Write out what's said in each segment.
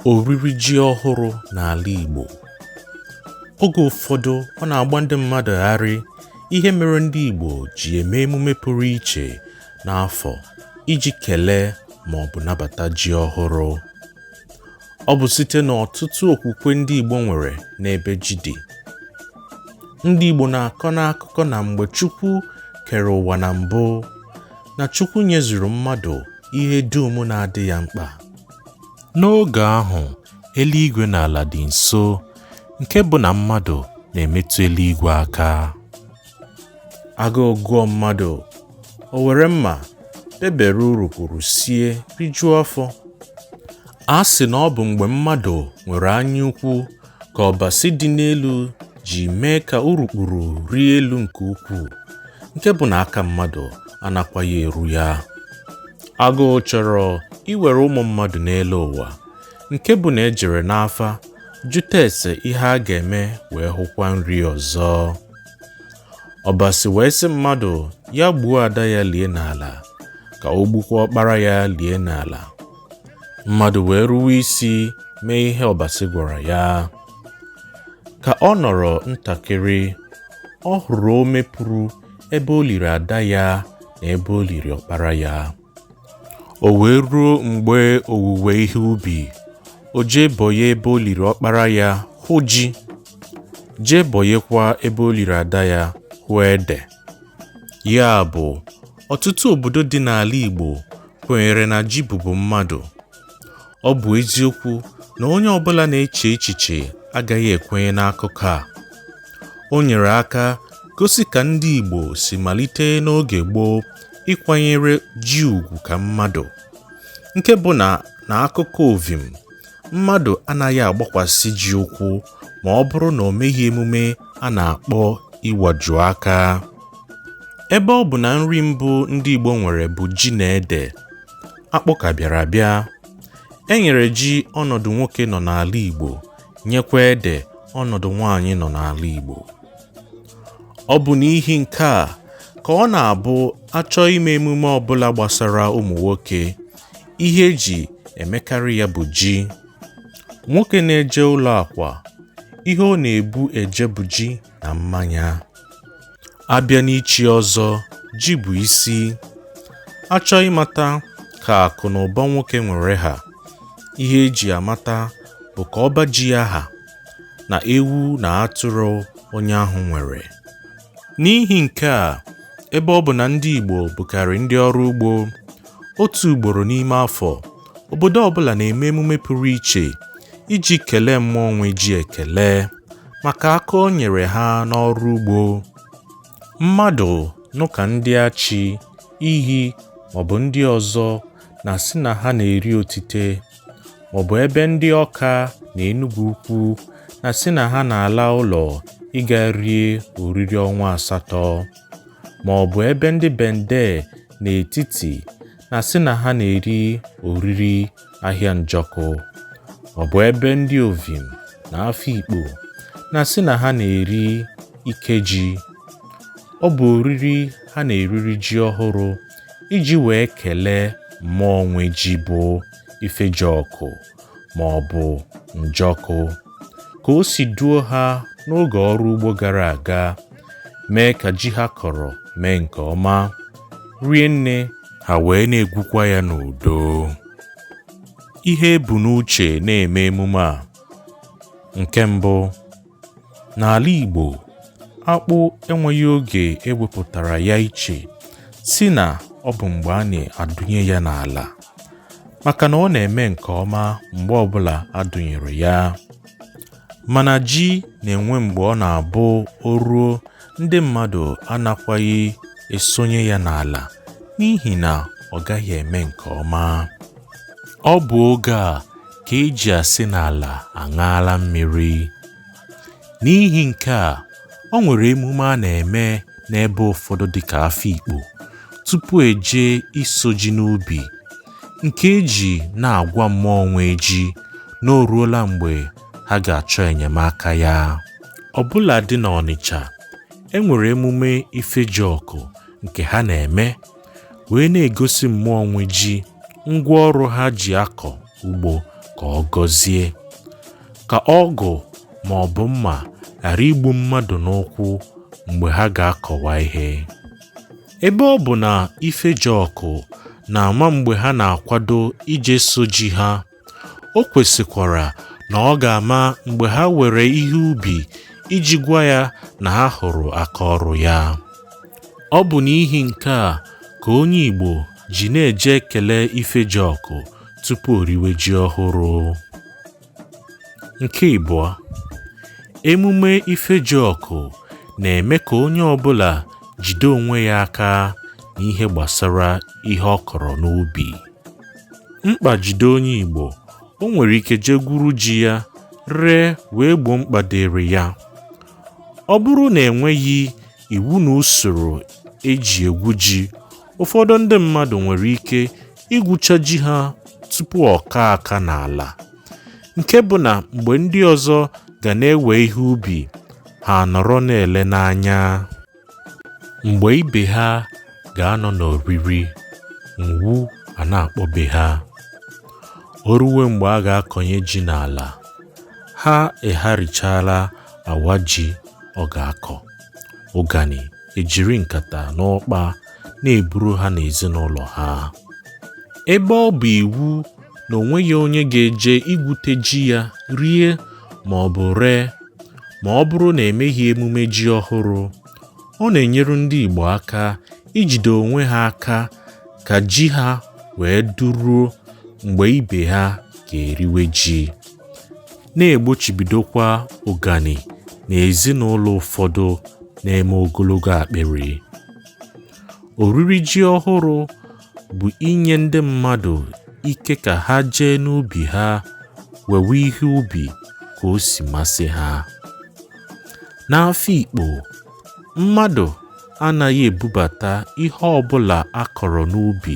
oriri ji ọhụrụ n'ala Igbo oge ụfọdụ ọ na-agba ndị mmadụ gharị ihe mere ndị Igbo ji eme emume pụrụ iche n'afọ iji kelee ma ọ bụ nabata ji ọhụrụ ọ bụ site n'ọtụtụ okwukwe ndị Igbo nwere n'ebe ji dị ndị Igbo na-akọ n'akụkọ na mgbe Chukwu kere ụwa na mbụ na Chukwu nyezuru mmadụ ihe dum na-adị ya mkpa. N'oge ahụ, eluigwe na ala dị nso, nke bụ na mmadụ na-emetụ eluigwe aka. Agụụ gụọ mmadụ, o were mma bebere urukpuru sie rijuo afọ. A sị na ọ bụ mgbe mmadụ nwere anyaukwu ka Ọbasị dị n'elu ji mee ka urukpuru rie elu nke ukwuu nke bụ na aka mmadụ anakwaghị eru ya agụụ chọrọ iwere ụmụ mmadụ n'elu ụwa nke bụ na e jere n'afa jụta ese ihe a ga-eme wee hụkwa nri ọzọ Ọbasị wee sị mmadụ ya gbuo ada ya lie n'ala ka o gbukwa ọkpara ya lie n'ala mmadụ wee ruwe isi mee ihe Ọbasị gwara ya ka ọ nọrọ ntakịrị ọ hụrụ ome pụrụ ebe o liri ada ya na ebe o liri ọkpara ya o wee ruo mgbe owuwe ihe ubi o jee bọye ebe o liri ọkpara ya hụ ji jee bọyekwa ebe o liri ada ya hụ ede Ya bụ, ọtụtụ obodo dị n'ala Igbo kwenyere na ji bụbu mmadụ. Ọ bụ eziokwu na onye ọbụla na-eche echiche agaghị ekwenye n'akụkọ a. O nyere aka gosi ka ndị Igbo si malite n'oge gboo ịkwanyere ji ugwu ka mmadụ, nke bụ na n'akụkụ Ovim, mmadụ anaghị agbakwasị ji ụkwụ ma ọ bụrụ na o meghị emume a na-akpọ ịwaju aka ebe ọ bụ na nri mbụ ndị Igbo nwere bụ ji na ede akpụ ka bịara abịa e nyere ji ọnọdụ nwoke nọ n'ala Igbo nyekwa ede ọnọdụ nwaanyị nọ n'ala Igbo ọ bụ n'ihi nke a ka ọ na-abụ a chọọ ime emume ọbụla gbasara ụmụ nwoke ihe e ji emekarị ya bụ ji Nwoke na-eje ụlọ akwa, ihe ọ na-ebu eje bụ ji na mmanya. A bịa n'ichi ọzọ, ji bụ isi. A chọọ ịmata ka akụ na ụba nwoke nwere ha, ihe e ji amata bụ ka ọba ji ya ha na ewu na atụrụ onye ahụ nwere. N'ihi nke a, ebe ọ bụ na ndị Igbo bụkarị ndị ọrụ ugbo, otu ugboro n'ime afọ, obodo ọbụla na-eme emume pụrụ iche iji kelee mmụọ nwe ji ekele maka aka o nyere ha n'ọrụ ugbo mmadụ nụ ka ndị achi inyi maọbụ ndị ọzọ na-asị na ha na-eri otite maọbụ ebe ndị ọka na enugwu ukwu na-asị na ha na-ala ụlọ ịga rie oriri ọnwa asatọ maọbụ ebe ndị bende n'etiti na-asị na ha na-eri oriri ahịa njọkụ ọ bụ ebe ndị ovim na afikpo na-asị na ha na-eri ike ji ọ bụ oriri ha na-eriri ji ọhụrụ iji wee kelee mmụọ nwe ji bụ Ifejiọkụ ma ọ bụ njọkụ ka o si duo ha n'oge ọrụ ugbo gara aga mee ka ji ha kọrọ mee nke ọma rie nne ha wee na-egwukwa ya n'udo ihe e bu n'uche na-eme emume a nke mbụ N'ala Igbo, akpụ enweghị oge e wepụtara ya iche sị na ọ bụ mgbe a na-adụnye ya n'ala maka na ọ na-eme nke ọma mgbe ọbụla a dụnyere ya mana ji na-enwe mgbe ọ na-abụ o ruo ndị mmadụ anakwaghị esonye ya n'ala n'ihi na ọ gaghị eme nke ọma ọ bụ oge a ka e ji asị na ala aṅaala mmiri. N'ihi nke a, o nwere emume a na-eme n'ebe ụfọdụ dịka Afikpo tupu e jee iso ji n'ubi nke e ji na-agwa mmụọ nwe ji na o ruola mgbe ha ga-achọ enyemaka ya. Ọbụladị n'Ọnịcha, e nwere emume Ifejiọkụ nke ha na-eme wee na-egosi mmụọ nwe ji ngwa ọrụ ha ji akọ ugbo ka ọ gọzie ka ọgụ ma ọ bụ mma ghara igbu mmadụ n'ụkwụ mgbe ha ga-akọwa ihe ebe ọ bụ na Ifejiọkụ na-ama mgbe ha na-akwado ije iso ji ha O kwesịkwara na ọ ga-ama mgbe ha were ihe ubi iji gwa ya na ha hụrụ aka ọrụ ya. Ọ bụ n'ihi nke a ka onye Igbo ji na-eje ekele Ifejiọkụ tupu o riwe ji ọhụrụ. Nke ịbụọ, emume Ifejiọkụ na-eme ka onye ọbụla jide onwe ya aka n'ihe gbasara ihe ọ kọrọ n'ubi. mkpa jide onye Igbo o nwere ike jee gwuru ji ya ree wee gboo mkpa dịrị ya ọ bụrụ na enweghị iwu na usoro eji egwu ji ụfọdụ ndị mmadụ nwere ike igwucha ji ha tupu ọ kaa aka n'ala nke bụ na mgbe ndị ọzọ ga na-ewe ihe ubi ha nọrọ na-ele n'anya mgbe ibe ha ga-anọ n'oriri ụnwụ a na-akpọbe ha o ruwe mgbe a ga-akọnye ji n'ala ha aga-erichaala awa ji ọ ga-akọ ụgani ejiri nkata na ụkpa na-eburu ha n'ezinụlọ ha ebe ọ bụ iwu na o nweghị onye ga-eje igwute ji ya rie ma ọ bụ ree ma ọ bụrụ na emeghị emume ji ọhụrụ. Ọ na-enyere ndị Igbo aka ijide onwe ha aka ka ji ha wee duruo mgbe ibe ha ga-eriwe ji, na-egbochibidokwa ụgani n'ezinụlọ ụfọdụ na-eme ogologo akpịrị. oriri ji ọhụrụ bụ inye ndị mmadụ ike ka ha jee n'ubi ha wewe ihe ubi ka o si masị ha n'Afikpo mmadụ anaghị ebubata ihe ọbụla a kọrọ n'ubi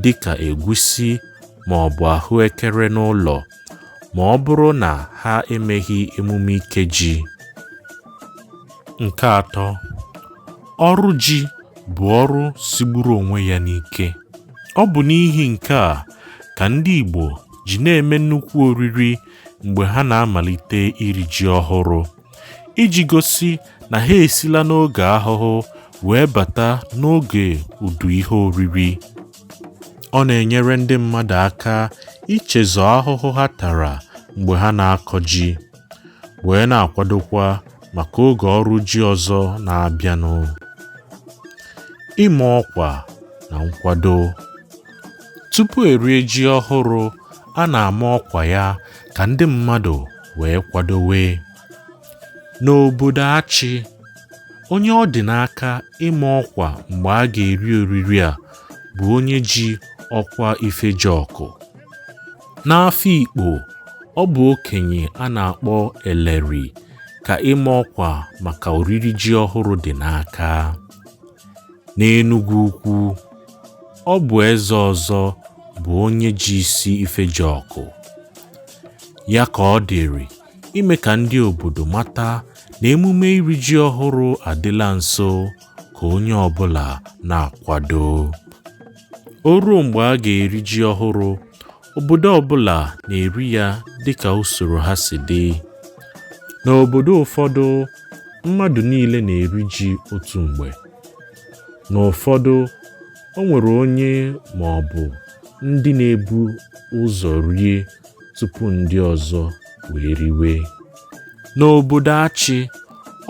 dịka egwusi maọbụ ahụekere n'ụlọ ma ọ bụrụ na ha emeghị emume Ikeji. Nke atọ, ọrụ ji bụ ọrụ sigburu onwe ya n'ike. Ọ bụ n'ihi nke a ka ndị Igbo ji na-eme nnukwu oriri mgbe ha na-amalite iri ji ọhụrụ iji gosi na ha esila n'oge ahụhụ wee bata n'oge udu ihe oriri. Ọ na-enyere ndị mmadụ aka ichezọ ahụhụ ha tara mgbe ha na-akọ ji, wee na-akwadokwa maka oge ọrụ ji ọzọ na-abịanụ. Ịma ọkwa na nkwado. Tupu erie ji ọhụrụ, a na-ama ọkwa ya ka ndị mmadụ wee kwadowe. N'obodo Achị, onye ọ dị n'aka ịma ọkwa mgbe a ga-eri oriri a bụ onye ji ọkwa Ifejiọkụ. N'Afikpo, ọ bụ okenye a na-akpọ Eleri ka ịma ọkwa maka oriri ji ọhụrụ dị n'aka. N'Enugwu Ukwu, ọ bụ eze ọzọ bụ onye ji isi Ifejiọkụ. Ya ka ọ dịrị ime ka ndị obodo mata na emume iri ji ọhụrụ adịla nso ka onye ọbụla na-akwado. O ruo mgbe a ga-eri ji ọhụrụ, obodo ọbụla na-eri ya dịka usoro ha si dị. N'obodo ụfọdụ, mmadụ niile na-eri ji otu mgbe. N'ụfọdụ, o nwere onye ma ọ bụ ndị na-ebu ụzọ rie tupu ndị ọzọ wee riwe. N'obodo Achị,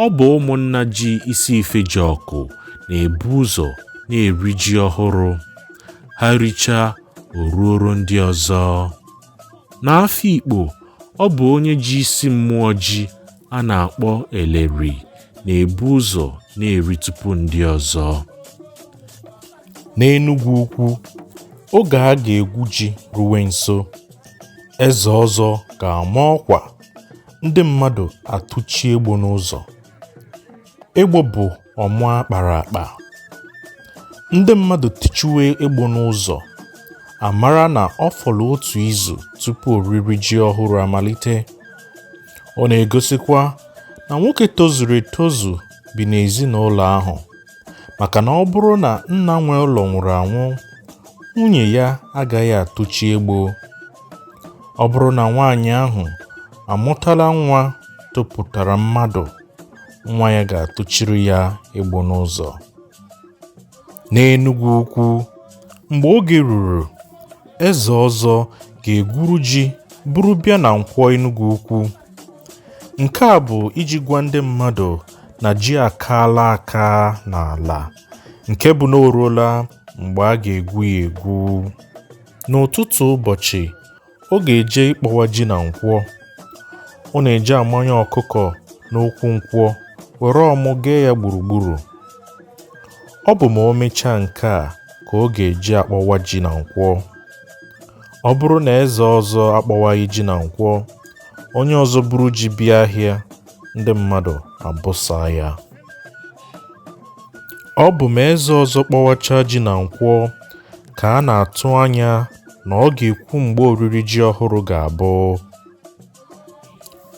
ọ bụ ụmụnna ji isi Ifejiọkụ na-ebu ụzọ na-eri ji ọhụrụ. Ha richaa, o ruoro ndị ọzọ. N'Afikpo, ọ bụ onye ji isi mmụọ ji a na-akpọ Eleri na-ebu ụzọ na-eri tupu ndị ọzọ. n'Enugwu Ukwu oge a ga-egwu ji ruwe nso, eze ọzọ ga-ama ọkwa, ndị mmadụ atụchi egbo n'ụzọ. Egbo bụ ọmụ a kpara akpa. Ndị mmadụ tụchiwe egbo n'ụzọ, a mara na ọ fọrọ otu izu tupu oriri ji ọhụrụ amalite. Ọ na-egosikwa na nwoke tozuru etozu bi n'ezinụlọ ahụ. maka na ọ bụrụ na nna nwe ụlọ nwụrụ anwụ nwunye ya agaghị atụchi egbo ọ bụrụ na nwaanyị ahụ amụtala nwa topụtara mmadụ nwa ya ga-atụchiri ya egbo n'ụzọ n'enugwu ukwu mgbe oge ruru eze ọzọ ga-egwuru ji buru bịa na nkwọ enugwu ukwu Nke a bụ iji gwa ndị mmadụ na ji akaala aka n'ala nke bụ na o ruola mgbe a ga-egwu ya egwu. N'ụtụtụ ụbọchị, ọ ga-eje ịkpọwa ji na nkwọ. Ọ na-eje amanye ọkụkọ n'okwu nkwọ were ọmụ gee ya gburugburu. Ọ bụ ma o mechaa nke a ka ọ ga-eji akpọwa ji na nkwọ. Ọ bụrụ na eze ọzọ akpọwaghị ji na nkwọ, onye ọzọ buru ji bịa ahịa ndị mmadụ abụsa ya ọ bụ ma eze ọzọ kpọwacha ji na nkwọ ka a na-atụ anya na ọ ga-ekwu mgbe oriri ji ọhụrụ ga-abụ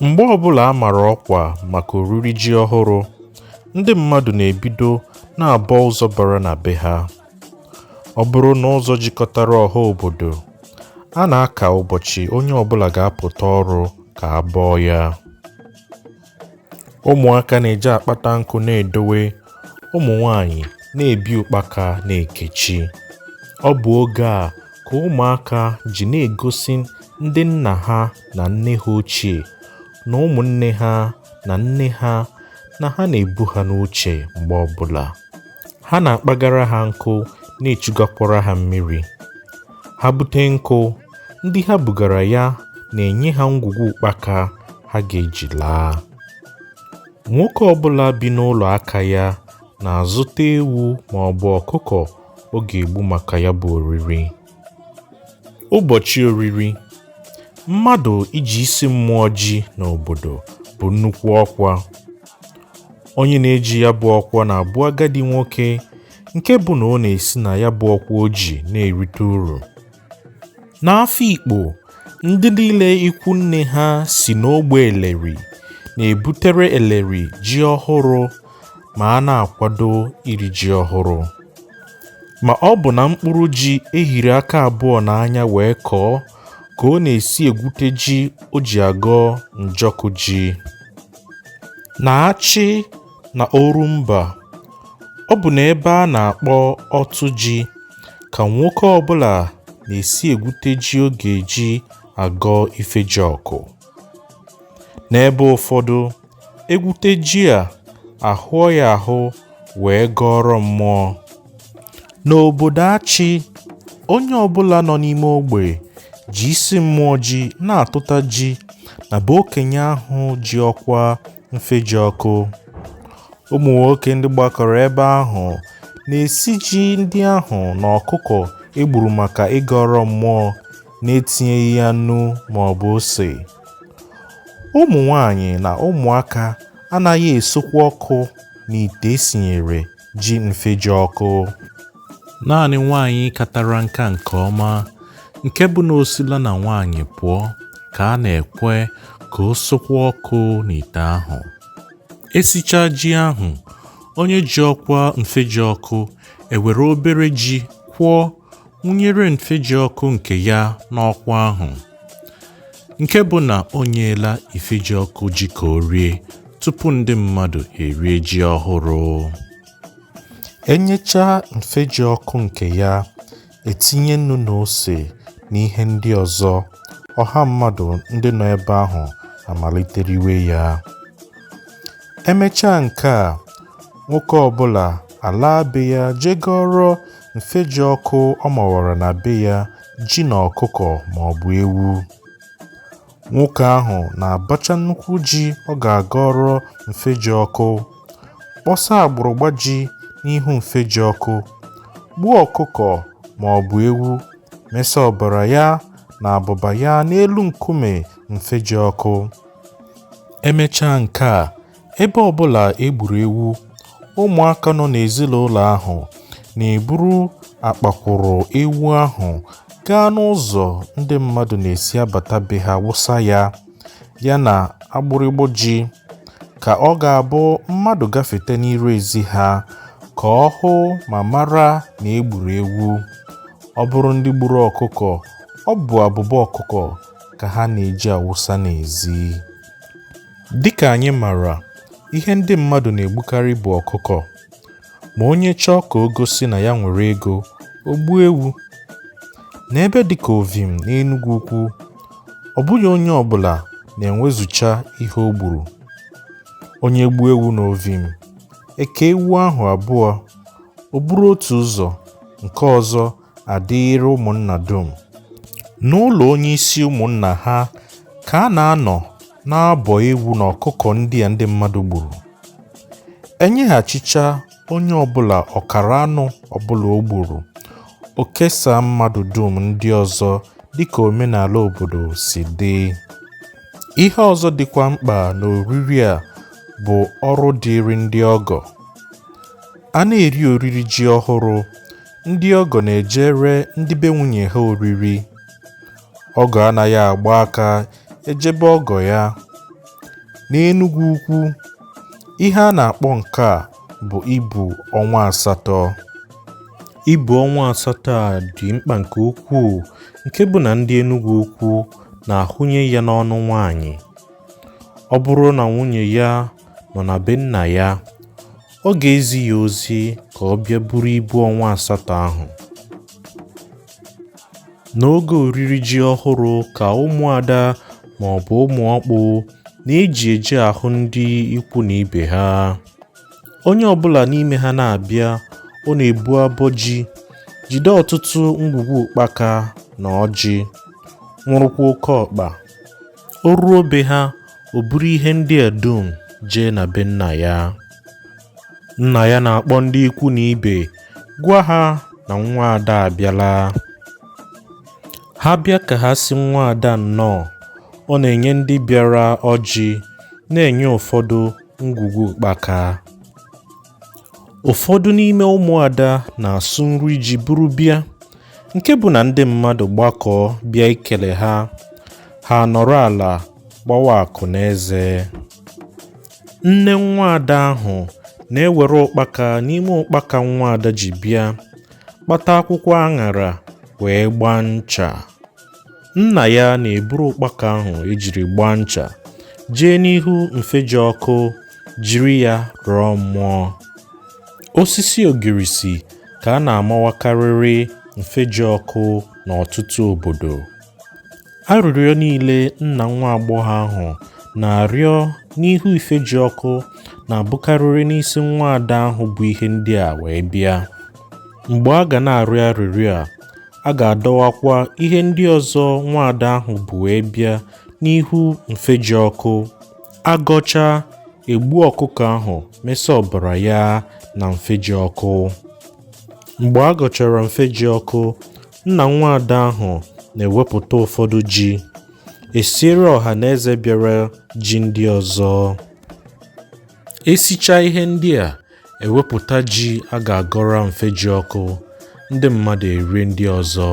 mgbe ọbụla a mara ọkwa maka oriri ji ọhụrụ ndị mmadụ na-ebido na-abọ ụzọ bara na be ha ọ bụrụ na ụzọ jikọtara ọha obodo a na-aka ụbọchị onye ọbụla ga-apụta ọrụ ka a bọọ ya ụmụaka na-eji akpata nkụ na-edowe ụmụ nwanyị na-ebi ụkpaka na-ekechi ọ bụ oge a ka ụmụaka ji na-egosi ndị nna ha na nne ha ochie na ụmụnne ha na nne ha na ha na-ebu ha n'uche mgbe ọbụla ha na-akpagara ha nkụ na-echugakwara ha mmiri ha bute nkụ ndị ha bugara ya na-enye ha ngwugwu ụkpaka ha ga-eji laa nwoke ọbụla bi n'ụlọ aka ya na-azụta ewu ma ọ bụ ọkụkọ ọ ga-egbu maka ya bụ oriri Ụbọchị oriri. Mmadụ iji isi mmụọ ji n'obodo bụ nnukwu ọkwa. Onye na-eji ya bụ ọkwa na-abụ agadi nwoke nke bụ na ọ na-esi na ya bụ ọkwa o ji na-erite uru. N'Afikpo, ndị niile ikwu nne ha si n'ogbe Eleri na-ebutere Eleri ji ọhụrụ ma a na-akwado iri ji ọhụrụ. ma ọ bụ na mkpụrụ ji e hiri aka abụọ n'anya wee kọọ ka ọ na-esi egwute ji o ji agọ njọkụ ji n'achị na orumba ọ bụ na ebe a na-akpọ ọtụ ji ka nwoke ọbụla na-esi egwute ji ọ ga-eji agọ ifejiọkụ n'ebe ụfọdụ e gwute ji a a hụọ ya ahụ wee gọọrọ mmụọ n'obodo achị onye ọbụla nọ n'ime ogbe ji isi mmụọ ji na-atụta ji na be okenye ahụ ji ọkwa mfejiọkụ ụmụ nwoke ndị gbakọrọ ebe ahụ na-esi ji ndị ahụ na ọkụkọ e gburu maka ịgọrọ mmụọ n'etinyeghị ya nnu maọbụ ose ụmụ nwanyị na ụmụaka anaghị esokwa ọkụ n'ite e sinyere ji mfejiọkụ naanị nwanyị katara nka nke ọma nke bụ na o sila na nwanyị pụọ ka a na-ekwe ka o sokwa ọkụ n'ite ahụ e sichaa ji ahụ onye ji ọkwa mfejiọkụ ewere obere ji kwụọ wụnyere mfejiọkụ nke ya n'ọkwa ahụ nke bụ na o nyeela ifejiọkụ ji ka o rie tupu ndị mmadụ erie ji ọhụrụ e nyechaa mfejiọkụ nke ya e tinye nnu na ose na ihe ndị ọzọ ọha mmadụ ndị nọ ebe ahụ amalite riwe ya e mechaa nke a nwoke ọbụla alaa be ya je gọọrọ mfeji ọkụ ọ mawara na be ya, ji na ọkụkọ ma ọ bụ ewu. Nwoke ahụ na-abacha nnukwu ji ọ ga-agọrọ mfeji ọkụ, kpọsa agbụrụgba ji n'ihu mfeji ọkụ, gbuo ọkụkọ ma ọ bụ ewu, mesa ọbara ya na abụba ya n'elu nkume mfeji ọkụ. E mechaa nke a, ebe ọbụla e gburu ewu ụmụaka nọ n'ezinụlọ ahụ na-eburu akpakwụrụ ewu ahụ gaa n'ụzọ ndị mmadụ na-esi abata be ha wụsa ya ya na agbụrụgbọ ji ka ọ ga-abụ mmadụ gafete n'iru ezi ha ka ọ hụ ma mara na e gburu ewu ọ bụrụ ndị gburu ọkụkọ ọ bụ abụba ọkụkọ ka ha na-eji awụsa n'ezi Dịka anyị mara, ihe ndị mmadụ na-egbukarị bụ ọkụkọ. Ma onye chọọ ka o gosi na ya nwere ego, o gbuo ewu. N'ebe dịka Ovim na Enugwu Ukwu, ọ bụghị onye ọbụla na-enwezucha ihe o gburu. Onye gbuo ewu n'Ovim, e kee ewu ahụ abụọ, o buru otu ụzọ, nke ọzọ adịịrị ụmụnna dum. N'ụlọ onye isi ụmụnna ha ka a na-anọ na-abọ ewu na ọkụkọ ndị a ndị mmadụ gburu. E nyeghachicha onye ọbụla ọkara anụ ọbụla o gburu, o kesaa mmadụ dum ndị ọzọ dịka omenala obodo si dị. Ihe ọzọ dịkwa mkpa n'oriri a bụ ọrụ dịịrị ndị ọgọ. A na-eri oriri ji ọhụrụ Ndị ọgọ na-ejere ndị be nwunye ha oriri. Ọgọ anaghị agba aka eje be ọgọ ya. N'Enugwu Ukwu, ihe a na-akpọ nke a bụ ibu ọnwa asatọ. Ibu ọnwa asatọ a dị mkpa nke ukwuu nke bụ na ndị Enugwu Ukwu na-ahụnye ya n'ọnụ nwaanyị. Ọ bụrụ na nwunye ya nọ na be nna ya, ọ ga-ezi ya ozi ka ọ bịa buru ibu ọnwa asatọ ahụ. N'oge oriri ji ọhụrụ ka ụmụada ma ọ bụ ụmụ ọkpụ na-eji eje ahụ ndị ikwu na ibe ha. Onye ọbụla n'ime ha na-abịa, ọ na-ebu abọ ji, jide ọtụtụ ngwugwu ụkpaka na ọjị, nwụrụkwa oke ọkpa. O ruo be ha, o buru ihe ndị a dum jee na be nna ya. Nna ya na-akpọ ndị ikwu na ibe gwa ha na nwa ada abịala. Ha bịa ka ha sị nwa ada nnọọ, ọ na-enye ndị bịara ọjị, na-enye ụfọdụ ngwugwu ụkpaka. Ụfọdụ n'ime ụmụada na-asụ nri ji buru bịa, nke bụ na ndị mmadụ gbakọọ bịa ikele ha, ha anọrọ ala gbawa akụ n'eze. Nne nwaada ahụ na-ewere ụkpaka n'ime ụkpaka nwaada ji bịa, kpata akwụkwọ aṅara wee gbaa ncha. nna ya na-eburu ụkpaka ahụ ejiri gbaa ncha jee n'ihu mfeji ọkụ jiri ya rọọ mmụọ osisi ogirisi ka a na-amawakarịrị mfeji ọkụ n'ọtụtụ obodo arịrịọ niile nna nwa agbọghọ ahụ na-arịọ n'ihu ifeji ọkụ na-abụkarịrị n'isi nwa ada ahụ bu ihe ndị a wee bịa mgbe a ga na-arịọ arịrịọ a A ga-adọwakwa ihe ndị ọzọ nwaada ahụ bu wee bịa n'ihu mfeji ọkụ. A gọcha, egbuo ọkụkọ ahụ mesa ọbara ya na mfeji ọkụ. Mgbe a gọchara mfeji ọkụ, nna nwaada ahụ na-ewepụta ụfọdụ ji, esiere ọha na eze bịara ji ndị ọzọ. esichaa ihe ndị a ewepụta ji a ga-agọrọ mfeji ọkụ ndị mmadụ erie ndị ọzọ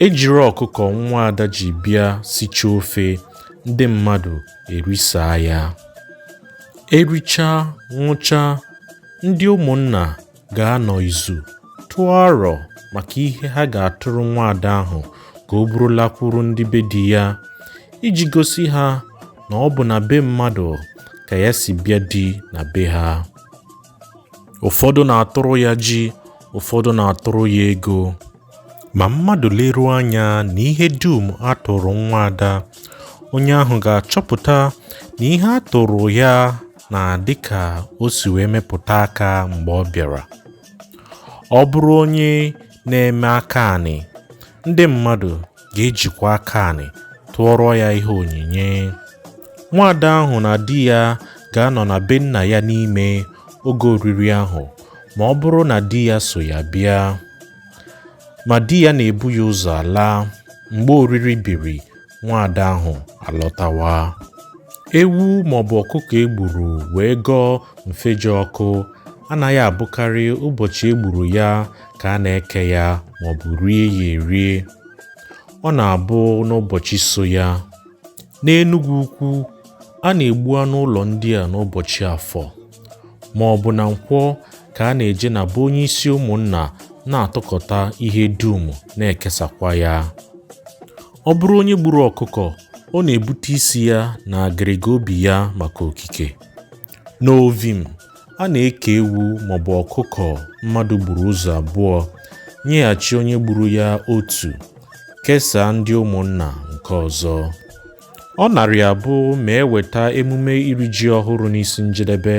ejiri ọkụkọ nwa ada ji bịa sicha ofe ndị mmadụ erisaa ya erichaa ṅụchaa ndị ụmụnna ga-anọ izu tụọ arọ maka ihe ha ga-atụrụ nwaada ahụ ka o buru lakwuru ndị be di ya iji gosi ha na ọ bụ na be mmadụ ka ya si bịa di na be ha. Ụfọdụ na-atụrụ ya ji, ụfọdụ na-atụrụ ya ego. Ma mmadụ leruo anya na ihe dum a tụrụ nwa ada, onye ahụ ga-achọpụta na ihe a tụrụ ya na-adịka o si wee mepụta aka mgbe ọ bịara ọ bụrụ onye na-eme aka anị ndị mmadụ ga-ejikwa aka anị tụọrọ ya ihe onyinye nwaada ahụ na di ya ga-anọ na be nna ya n'ime oge oriri ahụ ma ọ bụrụ na di ya so ya bịa ma di ya na-ebu ya ụzọ ala mgbe oriri biri nwaada ahụ alọtawa ewu maọbụ ọkụkọ egburu wee gọọ mfeji ọkụ anaghị abụkarị ụbọchị egburu ya ka a na-eke ya maọbụ rie ya erie ọ na-abụ n'ụbọchị so ya n'enugwu ukwu a na-egbu anụ ụlọ ndị a n'ụbọchị afọ ma ọ bụ na nkwọ ka a na-eje na be onye isi ụmụnna na-atụkọta ihe dum na-ekesakwa ya Ọ bụrụ onye gburu ọkụkọ, ọ na-ebute isi ya na agịrịga obi ya maka okike. N'Ovim, a na-eke ewu maọbụ ọkụkọ mmadụ gburu ụzọ abụọ, nyeghachi onye gburu ya otu, kesaa ndị ụmụnna nke ọzọ. Ọ narị abụ ma e weta emume iri ji ọhụrụ n'isi njedebe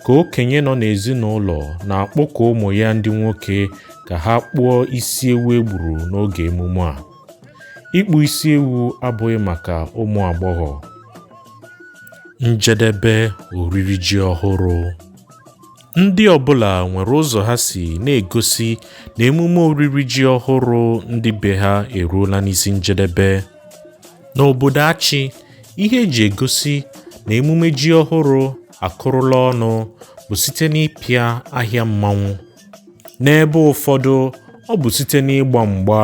ka okenye nọ n'ezinụlọ na-akpọkọ ụmụ ya ndị nwoke ka ha kpụọ isi ewu e gburu n'oge emume a. Ịkpụ isi ewu abụghị maka ụmụ agbọghọ. Njedebe oriri ji ọhụrụ. Ndị ọbụla nwere ụzọ ha si na-egosi na emume oriri ji ọhụrụ ndị be ha eruola n'isi njedebe. N'obodo Achị, ihe e ji egosi na emume ji ọhụrụ akụrụla ọnụ bụ site n'ịpịa ahịa mmanwụ. N'ebe ụfọdụ, ọ bụ site n'ịgba mgba.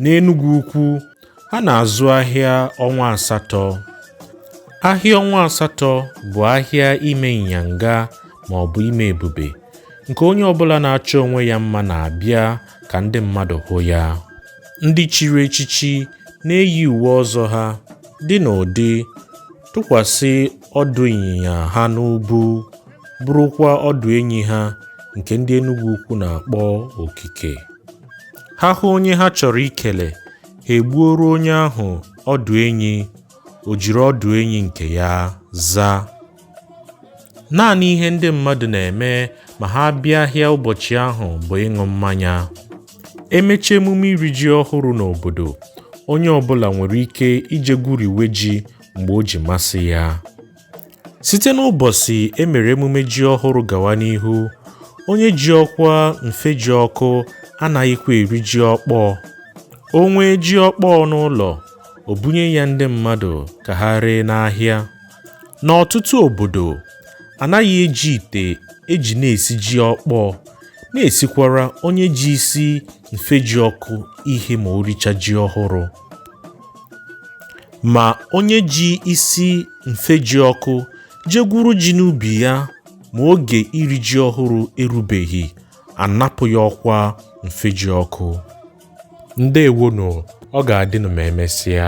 N'Enugwu Ukwu, ha na-azụ ahịa ọnwa asatọ. Ahịa ọnwa asatọ bụ ahịa ime ịnyanga ma ọ bụ ime ebube nke onye ọbụla na-achọ onwe ya mma na-abịa ka ndị mmadụ hụ ya. Ndị chiri echichi na-eyi uwe ọzọ ha dị n'ụdị tụkwasị ọdụ ịnyịnya ha n'ubu burukwa ọdụ enyi ha nke ndị Enugwu Ukwu na-akpọ okike ha hụ onye ha chọrọ ikele ha egbuoro onye ahụ ọdụ enyi o jiri ọdụ enyi nke ya zaa naanị ihe ndị mmadụ na-eme ma ha bịa ahịa ụbọchị ahụ bụ ịṅụ mmanya e mechaa emume iri ji ọhụrụ n'obodo onye ọbụla nwere ike ije gwuriwe ji mgbe o ji masị ya site n'ụbọchị e mere emume ji ọhụrụ gawa n'ihu onye ji ọkwa mfejiọkụ anaghịkwa eri ji ọkpọọ o nwee ji ọkpọọ n'ụlọ o bunye ya ndị mmadụ ka ha ree n'ahịa N'ọtụtụ obodo, a naghị eji ite e ji na-esi ji ọkpọọ na-esikwara onye ji isi mfejiọkụ ihe ma o richa ji ọhụrụ. Ma onye ji isi mfejiọkụ je gwuru ji n'ubi ya ma oge iri ji ọhụrụ erubeghị, a napụ ya ọkwa mfejiọkụ. Ndewonụ, ọ ga-adịnụ ma emesịa.